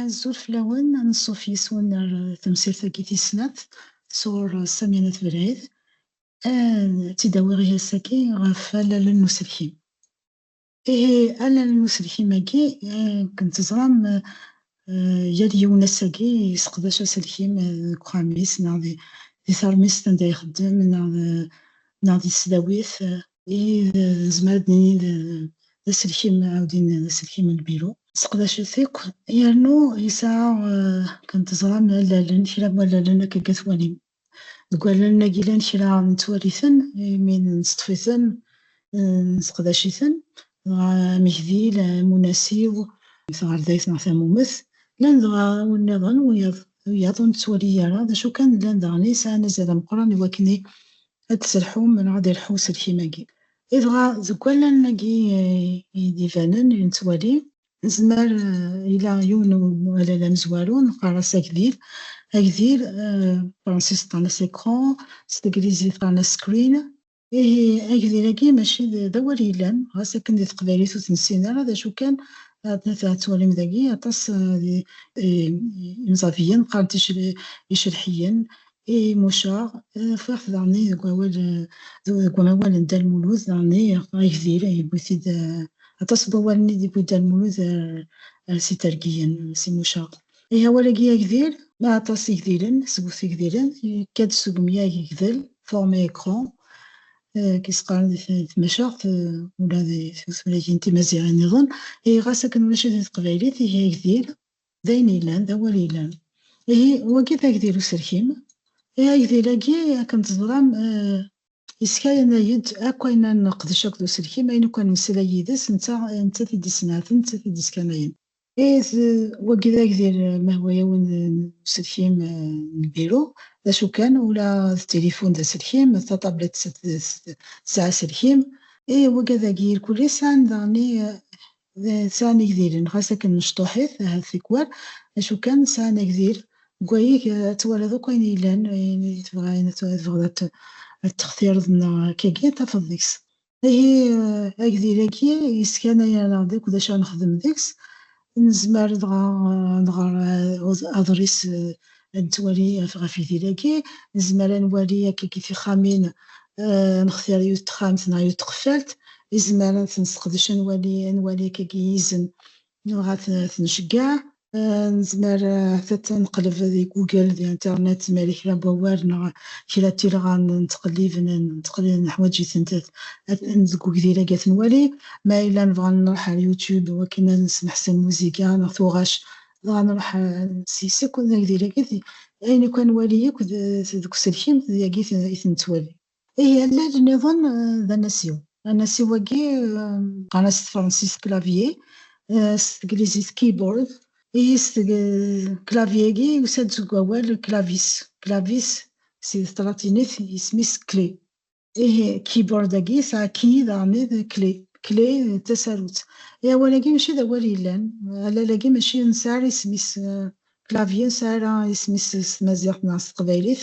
Azul fell-awen, ad nṣuf yes-wen ar temsirt-agi tis snat sɣur Sami n At Belɛid. Ad tt-id-awiɣ i ass-agi ɣef wallalen n uselkim. Ihi allen n uselkim-agi kkent ẓran yal yiwen ass-agi yesseqdac aselkim deg uxxam-is neɣ di teṛmist anda ixeddem neɣ di tesdawit. Ihi nezmer ad d-nini d aselkim aɛudin d aselkim n lbiru. Sseqdac-it akk yernu yesɛa kkent ẓran allalen, kra n wallalen akka deg at Walim. Deg wallalen-agi llan kra nettwali-ten, imi neṣṭef-iten, neseqdac-iten, dɣa amegdil, amunasiw, taɣerdayt neɣ tamumet, llan dɣa win-nniḍen, wiyaḍ ur nettwali ara, d acu kan llan daɣen i sɛan azal ameqqran i wakken ad d-sselḥu neɣ ad d-ilḥu uselkim-agi. Dɣa deg wallalen-agi i d-ibanen, i nettwali, Nezmer ila yiwen umalal amezwaru neqqar-as agdil. Agdil, fransis qqaren-as écran, s teglizit qqaren-as screen. Ihi agdil-agi mačči d awal yellan, ɣas akken di teqbaylit ur t-nessin ara, d acu kan ad tettwalim dagi aṭas n yimẓabiyen qqaren-t icelḥiyen, I Mucaɣ, ffeɣ daɣen i deg wawal deg umawal n Dda Lmulud daɣen i ffeɣ igdil, yewwi-t-id aṭas n wawalen i d-yewwi Dda Lmulud ar s itergiyen s i Mucaɣ. I awal-agi agdil, ma aṭas igdilen, seg-wet igdilen, yekka-d seg umyag igdel, forme écran, i s-qqaren di tmacaɣt ula di tutlayyin timaziɣin-nniḍen, ihi ɣas akken ulac-it di teqbaylit, ihi agdil. d ayen yellan, d awal yellan. Ihi, wagi d agdil userkim. I agdil-agi, akken teẓram, yeskayanay-d akk ayen ara neqdec akked userkim, ayen akk ara nemmeslay yid-s, netta nettat i d-issenɛaten, nettat i d-iskanayen. Ihi, wagi d agdil mahwayawen n userkim n lbiru, d acu kan, ula d tilifun d aserkim, d tatablet tesɛa aserkim. Ihi, wagi ad agi irkul-is, sɛan daɣen D sɛan igdilen, xas akken mecṭuḥit, ahat tikwal, acu kan sɛan agdil. Deg wayeg, ad twaliḍ akk ayen yellan, ayen i tebɣa, ayen i tebɣiḍ ad t-textireḍ neɣ akkagi, ad tafeḍ deg-s. Ihi, agdil-agi yesskanayen-aneɣ-d akk d acu ara nexdem deg-s. Nezmer dɣa ad nɣer aḍris ad nettwali ɣef yidir-agi, nezmer ad nwali akka deg tixxamin, ad nextir yiwet n texxamt neɣ yiwet n tqeffalt, izmar ad ten-nesseqdec, ad nwali ad nwali akka deg yizen neɣ ad ten-nceggeɛ. Nezmer ahat ad neqleb di Google, di internet, ma yella kra n wawal neɣ kra n tilɣa nettqellib, neḥwaǧ-itent deg ugdir-agi ad ten-nwali. Ma yella nebɣa ad nruḥ ar YouTube wakken ad nesmeḥsen lmuziga neɣ tuɣac, dɣa nruḥ nessis akk ad ak-d-irr akked ayen akk-a nwali akk deg uselkim d yagi i t-nettwali. Ihi allal nniḍen d anasiw. Anasiw-agi qqaren-as s tefransist clavier, s teglizit keyboard. Ihi s teg clavier-agi yusa-d seg wawal clavis, clavis si tlatinit isem-is clé. ihi keyboard-agi yesɛa key d aɛmid kli kli d tasarut i awal-agi mačči d awal yellan allal-agi mačči nesɛa ara isem-is clavier nesɛa ara isem-is s tmaziɣt neɣ s teqbaylit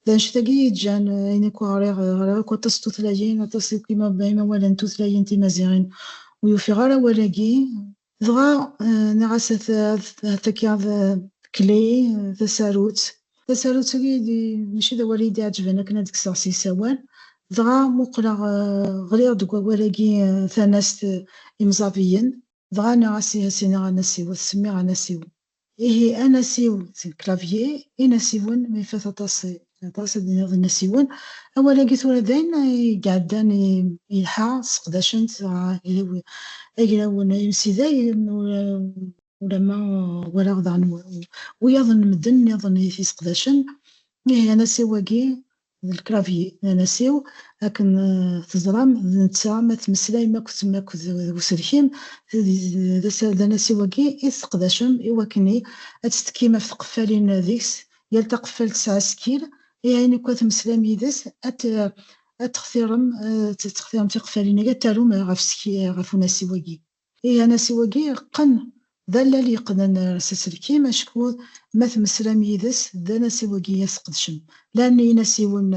d annect-agi i yeǧǧan ayen akk ɣriɣ ɣriɣ akk aṭas n tutlayin aṭas akk imawalen n tutlayin timaziɣin ur ufiɣ ara awal-agi Dɣa nniɣ-as ataki ad kli tasarut. Tasarut-agi mačči d awal i yi-d-iɛeǧben akken ad kkseɣ s isawal. Dɣa muqleɣ ɣliɣ-d deg wawal-agi tanast Imẓabiyen. Dɣa nniɣ-as i Asinag anasiw, ad t-semmiɣ Anasiw. Ihi anasiw seg clavier, inasiwen, ma ifat aṭas aṭas ad iniɣ d inasiwen, awal-agi tura d ayen i iɛeddan yelḥa sseqdacen-t agraw n imsidag ulamma walaɣ daɣen wiyaḍ n medden nniḍen i t-yesseqdacen, ihi anasiw-agi d lclavier n anasiw, akken teẓram d netta ma tmeslayem akked d uselkim, d anasiw-agi i tesseqdacem i wakkeni ad tettekkim ɣef tqeffalin deg-s, yal taqeffalt tesɛa asekkil i ayen akk-a tmeslayem yid-s, ad textirem tiqeffalin-agi ad tarum ɣef unasiw-agi. Ih, anasiw-agi yeqqen d allal yeqqnen s aselkim, acku ma tmeslam yid-s d anasiw-agi i as-tqedcem. Llan inasiwen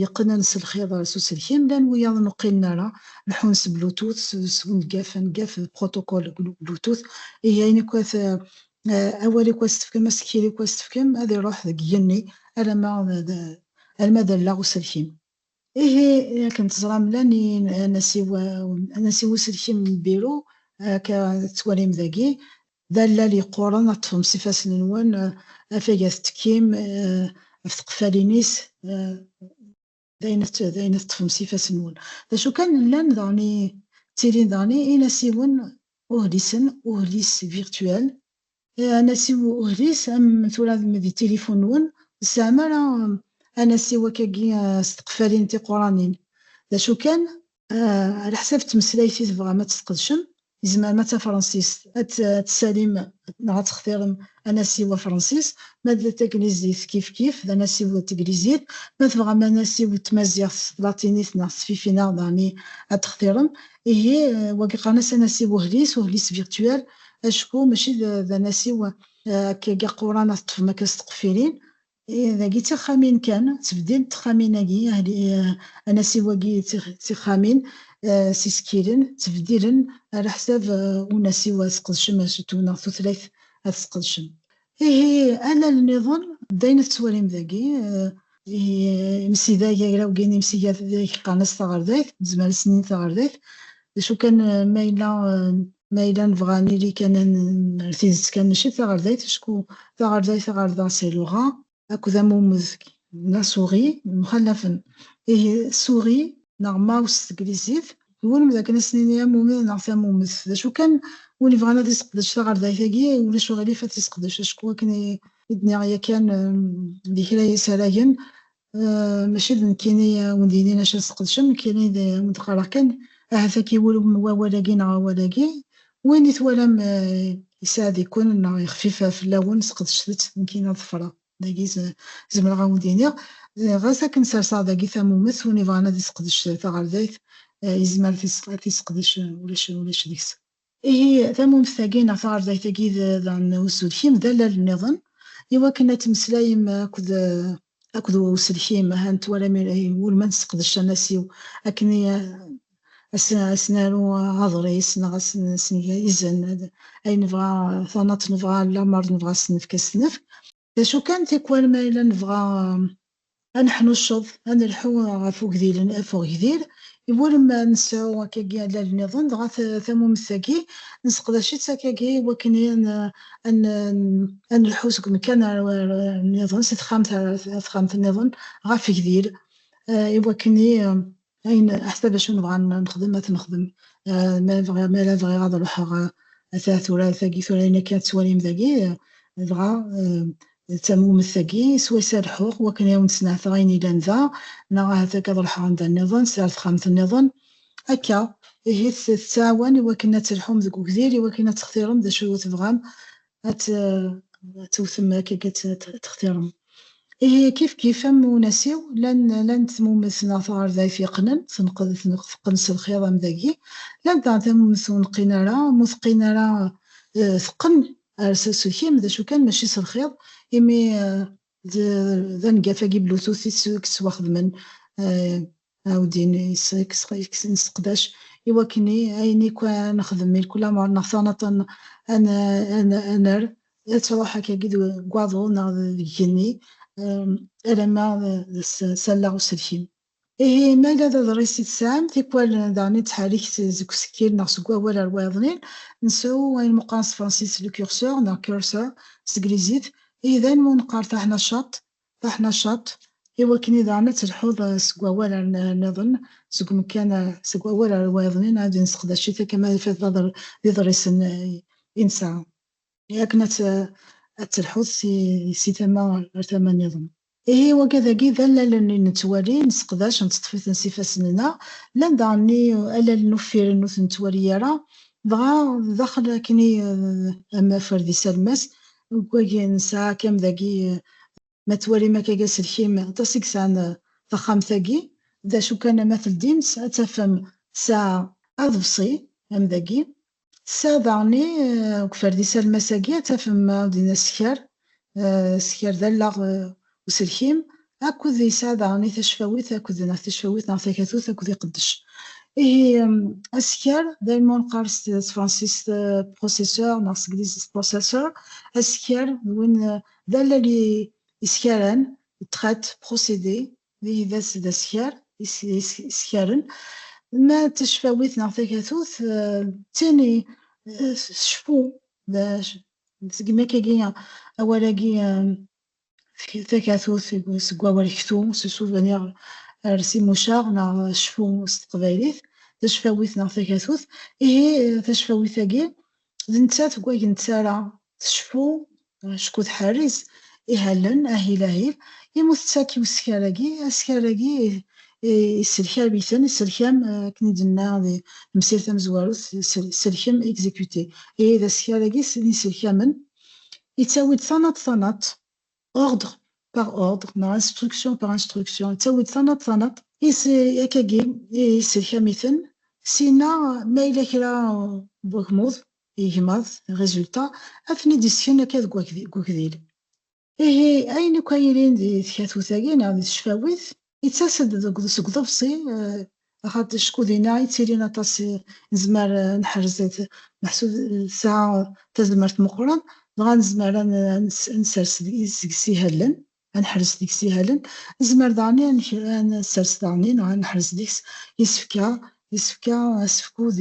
yeqqnen s lxiḍ s uselkim, llan wiyaḍ ur qqinen ara, leḥḥun s Bluetooth, s uneggaf, aneggaf d protocole Bluetooth. Ihi ayen akk at, awal akk as tefkem, asekkil akk as tefkem, ad iruḥ deg yigenni alamma d, alamma d allaɣ uselkim. Ihi, akken teẓram, llan anasiw anasiw uselkim n Biru, akka tettwalim dagi, d allal yeqquren ad ṭṭfem s ifassen-nwen afag ad t-tekkim ɣef tqeffalin-is d ayen d ayen ad teṭṭfem s ifassen-nwen. D acu kan, llan daɣen ttilin daɣen inasiwen uhlisen, uhlis virtuel, Anasiw uhlis am tura d tilifu-nwen, ur tesɛam ara anasiw akkagi s tqeffalin tiquranin. D acu kan, ɛlaḥsab tmeslayt i tebɣam ad tesqedcem, yezmer ma d tafransist ad tessalim neɣ ad textirem anasiw afransis, ma d taglizit kifkif d anasiw n teglizit, ma tebɣam anasiw n tmaziɣt s tlatinit neɣ s tfifinaɣ daɣmi ad textirem. Ihi, wagi qqaren-as anasiw uhlis, uhlis virtuel, Acku mačči d anasiw akkagi aquran ad teṭṭfem akka s tqeffirin, ih dagi d tixxamin kan, ttbeddil n texxamin-agi, ahli anasiw-agi d tixxamin s isekkilen, ttbeddilen, ɛlaḥsab unasiw ad sqedcem asutu neɣ tutlayt ad tesqedcem. Ihi alal niḍen d ayen tettwalim dagi, imsidag agraw gin imsidag qqaren-as taɣerdayt, nezmer ad s-nini taɣerdayt, d acu kan ma yella ma yella nebɣa ad nili kan ar tidet kan mačči d taɣerdayt acku taɣerdayt ɣerda c'est le rat, akked am umezg neɣ souris mxallafen. Ihi souris neɣ mouse s teglizit, twulem dakken ad s-nini am umid neɣ tamumet. D acu kan, win ibɣan ad yesseqdec taɣerdayt-agi, ulac uɣilif ad t-yesseqdec, acku akken i d-nniɣ yakan di kra n yisaragen, mačči d nekkini i awen-d-yinin acu ad tesqedcem, nekkini d awen-d-qqareɣ kan ahat ad k-iwulem wawal-agi neɣ awal-agi, Win i twalam yesɛed-iken neɣ yexfif fell-awen, sqedcet-t, nekk in ad ḍefreɣ dagi zemreɣ a wen-d-iniɣ, ɣas akken serseɣ dagi tamumet, win ibɣan ad isqedec taɣerdayt yezmer ad t-isqedec ulac deg-s. Ihi tamumet-agi neɣ taɣerdayt-agi d uselkim d allal-nniḍen i wakken ad temmeslayem akked akked uselkim, ha n twala mi ara iwulem ad nesseqdec anasiw akken i as-naru aḍris neɣ ad as-neg izen, ay nebɣa tanaḍt nebɣa lameṛ nebɣa ad s-nefk ad s-nefk. D acu kan, tikwal ma yella nebɣa ad neḥnucceḍ, ad nelḥu ɣef ugdilen, ɣef ugdil, iwulem ad nesɛu akkagi allal niḍen, dɣa tamumemt-agi nesseqdac-itt akkagi iwakken ad nelḥu seg umkan ar nniḍen, si texxamt ar texxamt nniḍen, ɣef gdil, i wakken i ayen aḥsab acu nebɣa nexdem ad t-nexdem ma bɣiɣ mi ara bɣiɣ ad ruḥeɣ ata tura tagi tura ayen akka tettwalim dagi dɣa d tamwumet tagi swayes ad lḥuɣ wakken i awen-d-snehteɣ ayen yellan da neɣ ahat akka ad ruḥeɣ anda nniḍen si ar texxamt nniḍen Akka, ihi tettɛawan i wakken ad telḥum deg ugdir, i wakken ad textirem d acu i tebɣam ad tewtem akken ad textirem. Ihi kif kif am unasiw, llan-d tmumet neɣ taɣerdayt yeqqnen, teqqen s lxiḍ am dagi, llant daɣen tamumet ur neqqin ara, am ur teqqin ara teqqen ar s aselkim, d acu kan mačči s lxiḍ, imi d aneggaf-agi Bluetooth i yettwaxedmen Ɛawdin yekksen iseqdac i wakken i ayen ikk a nexdem i lkul amer neɣ taɣnaṭ a nerr, ad truḥ akkagi deg waḍu neɣ deg igenni alamma d s allaɣ uselkim. Ihi ma ala d aḍris i tesɛam, tikwal daɣen i nettḥerrik-t seg usekkil neɣ seg wawal ar wayeḍnin, nsew ayen meqqaren s tefransist le curseur neɣ cursor s teglizit, ihi d ayen ma ur neqqar taḥnacaṭ Taḥnacaḍt, i wakken i daɣen ad telḥuḍ seg wawal ar nniḍen, seg umekkan seg wawal ar wayeḍnin ad inseqdac-it akka ma ifat d iḍrisen i nesɛa, i akken ad telḥuḍ si tama ar tama nniḍen. Ihi iwaga dagi d allalen i nettwali, nesseqdac, nettṭef-iten s ifassen-nneɣ, llan daɣen allalen uffiren ur ten-nettwali ara, dɣa daxel akken i am aferdis alemmas, Deg wagi nesɛa akam dagi, ma twalim akka deg aselkim, aṭas i yesɛan taxxamt-agi, d acu kan ma teldim-tt ad tafem tesɛa aḍebsi am dagi, tesɛa daɣen i deg uferdis almas-agi ad tafem, ɛawden-as sker, sker d allaɣ Uselkim akked yesɛa daɣen i tacfawit akked neɣ tacfawit neɣ takatut akked iqeddec. Ihi, asekkar, d ayen ma neqqar s tefransist processeur neɣ s teglizit processor, asekkar d win d allal yeskaren, traite, procédé, ihi d asekkar yeskaren. Ma d tacfawit neɣ takatut, d tin tceffu, d segmi akka-agi awal-agi Tefki-d takatut seg wawal ktu s souvenir ar si Mucaɣ neɣ cfu s teqbaylit, tacfawit neɣ takatut. Ihi tacfawit-agi d nettat deg wayen d-terra tecfu acku tḥerriz ihalen ahil ahil imi ur tettak i uskar-agi, askar-agi yesselkam-iten, isselkam akken i d-tenna di temsirt tamezwarut, selkem, exécuter, ihi d askar-agi n yiselkamen Yettawi-d tanaḍt tanaḍt, ordre par ordre neɣ instruction par instruction, yettawi-d tanaḍt tanaḍt, is akkagi i iselkam-iten, syin-a ma yella kra n wagmuḍ, igmaḍ, résultats, ad ten-id-isken akka deg ugdil. Ihi, ayen akk ay yelin di tkatut-agi neɣ di tecfawit, Yettas-d deg uḍebsi, axaṭ acku dinna i ttilin aṭas nezmer ad neḥrez meḥsub tesɛa tazmert meqqren, dɣa nezmer ad nsers deg-s ihalen, ad neḥrez deg-s ihalen, nezmer daɣen ad nsers daɣen neɣ ad neḥrez deg-s isefka, isefka, asefk-u d.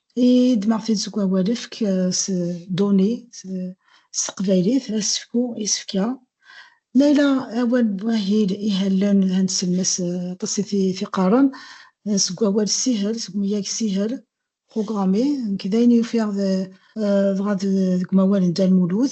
I d maɣef i d seg wawalefk s données s teqbaylit, asefku, isefka. Ma yella awal n wahil ihallen d anselmes aṭas i t-iqqaren, seg wawal ssihel, seg umyag ssihel, programmer, nekk d ayen i ufiɣ dɣa deg umawal n Dda Lmulud.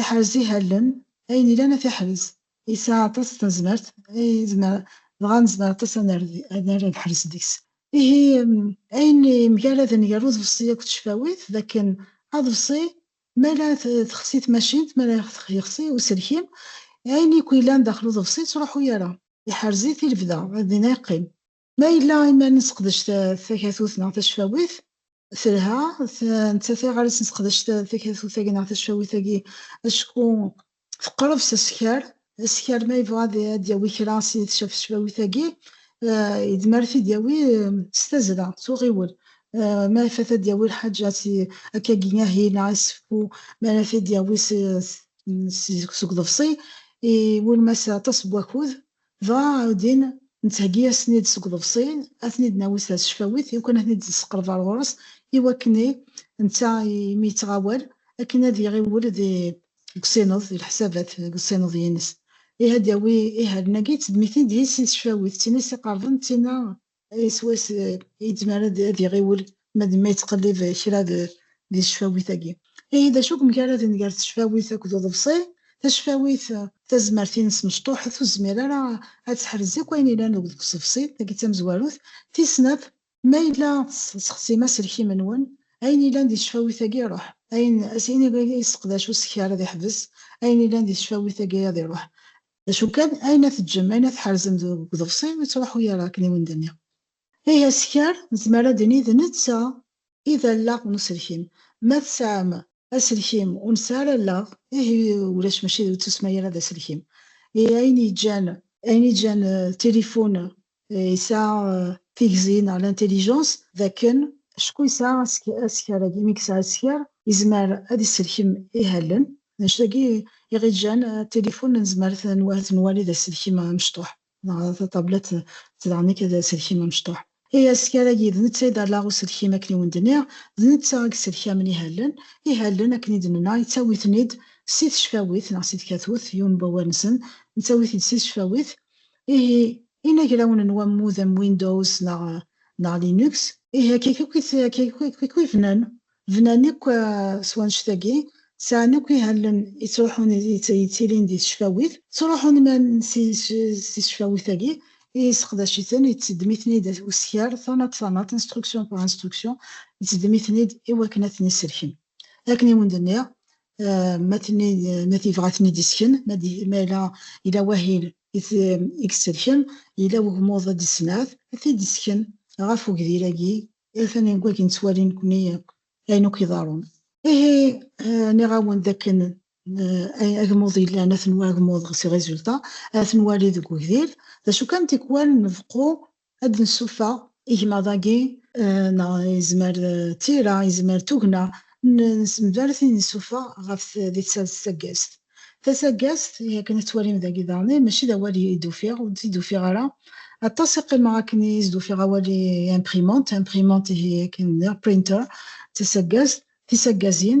Iḥrez ihallen, ayen ilan ad t-iḥrez. Yesɛa aṭas n tazmert, dɣa nezmer aṭas ad nerr lḥers deg-s. Ihi, ayen yemgaraden gar uḍebsi akked tcefawit d akken aḍebsi mi ara texsi tmacint, mi ara yexsi uselkim, ayen yakk yellan daxel uḍebsi ur yettruḥu ara, iḥrez-it i lebda, ad din ara yeqqim. Ma yella i ma nesseqdec takatut neɣ tacfawit telha, netta tiɣarit nesseqdec takatut-agi neɣ tacfawit-agi acku teqreb s askar. Askar ma yebɣa ad d-yawi kra si tcafcfawit-agi, yedmer ad t-id-yawi s tazzla, s uɣiwel. Ma ifat ad d-yawi lḥaǧa akkagi ahi neɣ iseffu, mi ara t-id-yawi seg uḍebsi, iwulem-as aṭas n wakud, Dɣa din nettheggi-asen-id seg uḍebsi, ad ten-id-nawi s tecfawit, iwakken ad ten-id-nesqerb ar ɣur-s, iwakken i, netta imi yettɣawal, akken ad iɣiwel di, deg usineḍ, di leḥsabat, deg usineḍ-ines. Ih, ad d-yawi ihallen-agi, d tedmitin d yis-s i tecfawit, d tin i s-iqerben, d tin a. Iswi-s yezmer ad iɣiwel ma d ma yettqellib kra di tecfawit-agi. Ihi d acu i yemgaraden gar tecfawit akked uḍebsi? Tacfawit tazmert-ines mecṭuḥet, ur tezmir ara ad teḥrez akk ayen yellan deg uḍebsi, tagi d tamezwarut. Tis snat, Ma yella tessexsim aselkim-nwen, ayen yellan di tecfawit-agi iruḥ, ayen i yesseqdac usekkar ad iḥbes, ayen yellan di tecfawit-agi ad iruḥ. D acu kan, ayen ad teǧǧem, ayen ad tḥerzem deg uḍebsi, ur yettruḥu ara akken iwumi d-nniɣ. Ihi askar, nezmer ad d-nini d netta i d allaɣ n uselkim. Ma tesɛam aselkim ur nesɛi ara allaɣ, ihi ulac, mačči ur ttusemma ara d aselkim. Ihi ayen yeǧǧan, ayen yeǧǧan tilifun yesɛa tigzi neɣ l'intelligence dakken acku yesɛa askar-agi, imi yesɛa askar yezmer ad isselkem ihalen, d acu dagi iɣiǧǧan tilifun nezmer ad t-nwali d aselkim amecṭuḥ neɣ tatablet tedɛen-ik d aselkim amecṭuḥ. Ihi askar-agi d netta i d allaɣ uselkim akken i wen-d-nniɣ, d netta i yesselkamen ihalen, ihalen akken i d-nenna yettawi-ten-id si tecfawit neɣ si tkatut, yiwen n wawal-nsen, nettawi-t-id si tecfawit, Ihi, inagrawen n wammud am Windows neɣ neɣ Linux. Ihi akka akk i akka akk i bnan, bnan akk s wannect-agi, sɛan akk ihallen yettruḥun yettilin di tecfawit, ttruḥun man s tecfawit-agi, yesseqdac-iten, yetteddem-iten-id uskar tanaḍt tanaḍt, instruction par instruction, yetteddem-iten-id i wakken ad ten-isselken. Akken i wen-d-nniɣ, ma t-yebɣa ad ten-id-isken, ma yella yella wahil i t-id-iselken, yella wegmuḍ ad d-issenɛet, ad t-id-isken ɣef ugdir-agi, atan deg wakken ttwalin nekkni akk ayen akk iḍerrun. Ihi, nniɣ-awen d akken agmuḍ yellan ad t-nwali, agmuḍ, si résultat, ad t-nwali deg ugdir, d acu kan tikwal nbeqqu Ad d-nsuffeɣ igmaḍ-agi neɣ yezmer d tira, yezmer d tugna, nessember tin nsuffeɣ ɣef di tsaggazt. Tasaggazt, i akken ad twalim dagi daɣen, mačči d awal i d-ufiɣ, ur d-t-id-ufiɣ ara. Aṭas i qqimeɣ akken i as-d-ufiɣ awal i imprimante, imprimante ihi akken d printer, d tasaggazt, tisaggaziin.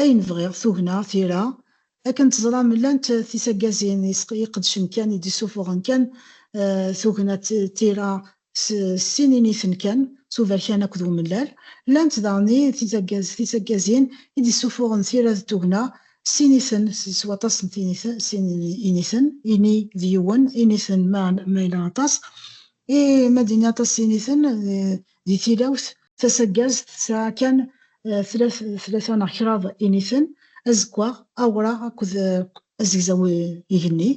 Ayen bɣiɣ, tugna, tira, akken teẓram llant tisagazin iqedcen kan i d-isufuɣen kan tugna d tira s sin initen kan, s uberkan akked umellal. Llant daɣen i tisagazin i d-isufuɣen tira d tugna s initen, s waṭas n sin initen, ini d yiwen, initen ma yella aṭas. I ma d-ini aṭas n initen di tilawt, tasaggazt tesɛa kan tlata neɣ kraḍ initen, azekwaɣ, awraɣ akked azegzaw igenni.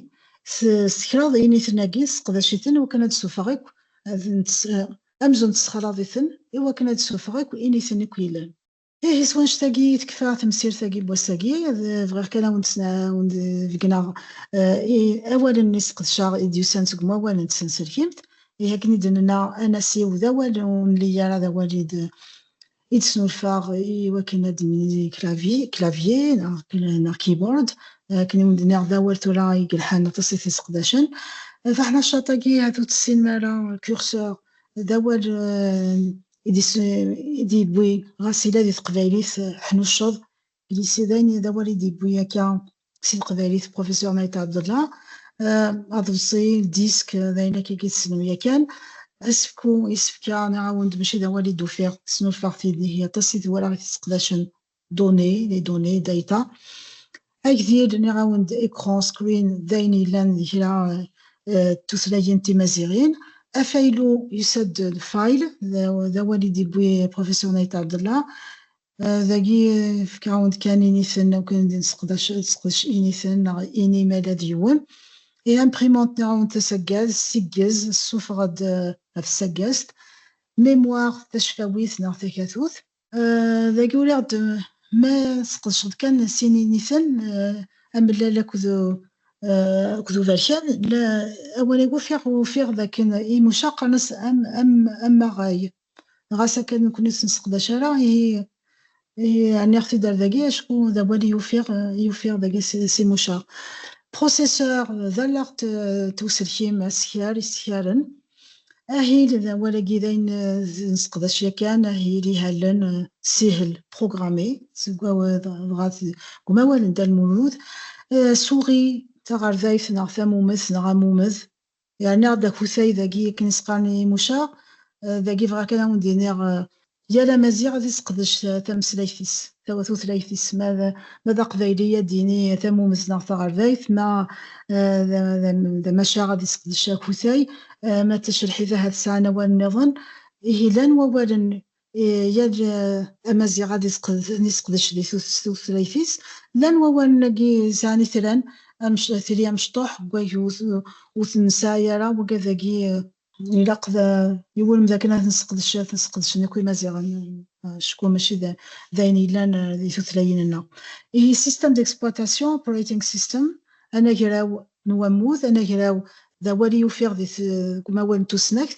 S kraḍ yiniten-agi tesseqdac-iten wakken ad d-tessufeɣ akk amzun tessexraḍ-iten i wakken ad d-tessufeɣ akk initen akk yellan. Ihi s wannect-agi i tekfa temsirt-agi n wass-agi. Bɣiɣ kan ad awen-d-beggneɣ awalen i sqedceɣ i d-yusan seg umawal n tsenselkimt. Ihi akken i d-nenna, anasiw d awal ur nelli ara d awal i d-snulfaɣ i wakken ad d-nini clavier, clavier, neɣ keyboard, akken i wen-d-nniɣ d awal tura i yelḥan aṭas i t-iseqdacen. Taḥnacaṭ-agi ahat ur tessinem ara curseur, d awal i d-yewwi ɣas yella di teqbaylit ḥnucceḍ, Lycée d awal i d-yewwi akka si teqbaylit Professeur Maït Abdallah, aḍebsi, disk, d ayen akka i tessnem yakan. Asefku, isefka, nniɣ-awen-d mačči d awal i d-ufiɣ, snulfaɣ-t ihi aṭas i t-walaɣ i t-sseqdacen, données, les données, data. Agdil, nniɣ-awen-d écran, screen, d ayen yellan di kra n tutlayin timaziɣin. Afaylu, yusa-d file, d awal i d-yewwi Professeur Maït Abdallah. Dagi, fek awen-d kan initen akk i d nesseqdac, sseqdec initen neɣ ini ma yella d yiwen. I imprimante neɣ awen tasaggaz, siggez, ssuffeɣ-d ɣef tsaggazt. Mémoire, tacfawit neɣ takatut. Dagi uriɣ-d ma tesqedceḍ kan sin initen, amellal akked akked uberkan, la awal-agi ufiɣ ufiɣ dakken i mucaɣ qqaren-as am am amaɣay. ɣas akka nekkni ur t-nesseqdac ara, ihi ihi ɛni ɣ-t-id-ar dagi, acku d awal i ufiɣ i yufiɣ dagi si si Muca. Processeur d allaɣ t t uselkim asekrar isekraren. Ahil d awal-agi d ayen nesseqdac yakan, ahil ihallen, sihel, programmé, seg aw dɣa d deg umawal n Dda Lmulud. Souris d taɣerdayt neɣ tamumet neɣ amumed. Yerna-ɣ-d akutay dagi akken i s-qqaren i Muca, dagi bɣiɣ kan a wen-d-iniɣ, yal amaziɣ ad iseqdec tameslayt-is, tutlayt-is, ma ma d aqbayli ad d-yini tamumet neɣ taɣerbayt, ma d amacaɣ ad iseqdec akutay, ma d tacelḥit ahat sɛan awal nniḍen, ihi llan wawalen Yal amaziɣ ad iseqdec di tutlayt-is. Llan wawalen-agi sɛan itran, tili amecṭuḥ deg wagi ur ten-nesɛi ara, wagi ad agi. Ilaq i wulem d akken ad nesseqdec, ad ten-seqdecen akk imaziɣen, acku mačči d ayen yellan di tutlayin-nneɣ. Ihi système d'exploitation, operating system, anagraw n wammud, anagraw d awal i ufiɣ deg umawal n tusnakt,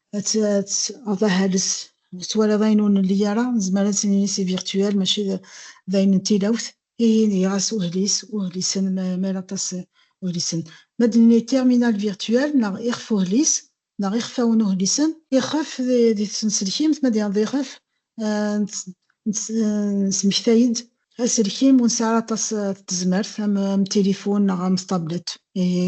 enfin hales twala d ayen ur nelli ara nezmer ad s-nini si virtuel mačči d ayen n tilawt ihin iɣas uhlis uhlisen mer aṭas uhlisen ma d-nini terminal virtuel neɣ ixef uhlis neɣ ixfawen uhlisen ixef di tsenselkimt ma d-yaḍ ixef nesmektay-d aselkim ur nesɛi ara aṭas tezmert am tilifun neɣ am tablet ihi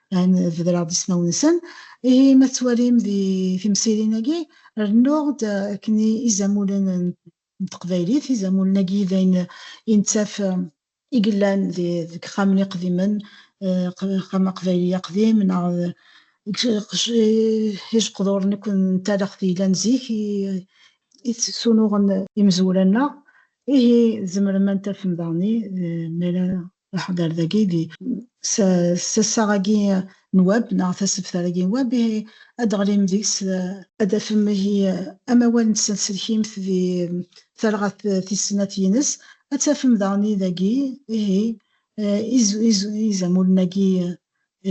An bedreɣ-d ismawen-nsen. Ihi ma tettwalim di timsirin-agi, rennuɣ-d akken izamulen n teqbaylit, izamulen-agi d ayen i nettaf i yellan deg ixxamen iqdimen, axxam aqbayli aqdim neɣ ijeqduren akk n talaxt yellan zik i d-sunuɣen imezwura-nneɣ. Ihi tzemrem ad tafem daɣen, mi ara Leḥder dagi di tasa-agi n web neɣ tasebtar-agi n web, ihi ad d-teɣlim deg-s. Ad d-tafem ihi amawal n tsenselkimt di talɣa tis snat yines. Ad d-tafem daɣen dagi ihi izamulen-agi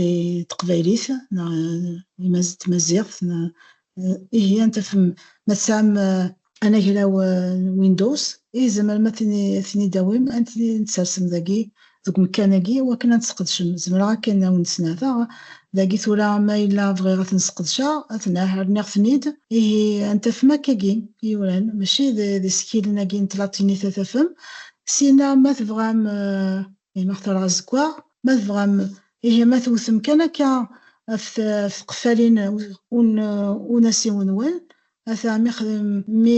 i teqbaylit neɣ i tmaziɣt ihi ad tafem ma tesɛam anagraw n Windows i tzemrem ad ten-id-tawim ad ten-id-tsersem dagi deg umekkan-agi i wakken ad t-tesqedcem zemreɣ akken ad wen-d-snerteɣ dagi tura ma yella bɣiɣ ad ten-sqedceɣ ad ten-ah rniɣ-ten-id ihi ad tafem akkagi i yuran mačči d isekkilen-agi n tlatinit ad tafem syenna ma tebɣam i ma xtareɣ azeggaɣ ma tebɣam ihi ma tewtem kan akka ɣef tqeffalin un asiw-nwen, ata mi mi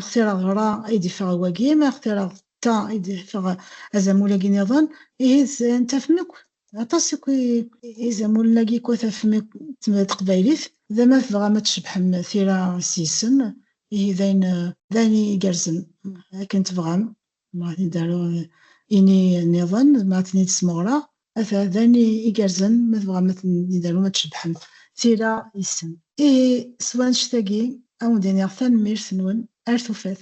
xtireɣ ɣra i d-iffeɣ wagi, mi xtireɣ ta i d-iffeɣ azamul-agi niḍen, ihi tafem akk, aṭas akk izamulen-agi akk tafem akk d taqbaylit, da ma tebɣam ad tcebḥem tira s yisem, ihi d ayen d ayen igerrzen akken tebɣam Ma ad d-aru ini nniḍen, ma ad ten-id-smeɣreɣ, ata d ayen igerrzen ma tebɣam ad ten-id-arum ad cebbḥem. Tira yes-sen. Ihi s wannect-agi ad wen-d-iniɣ tanemmirt-nwen, ar tufat.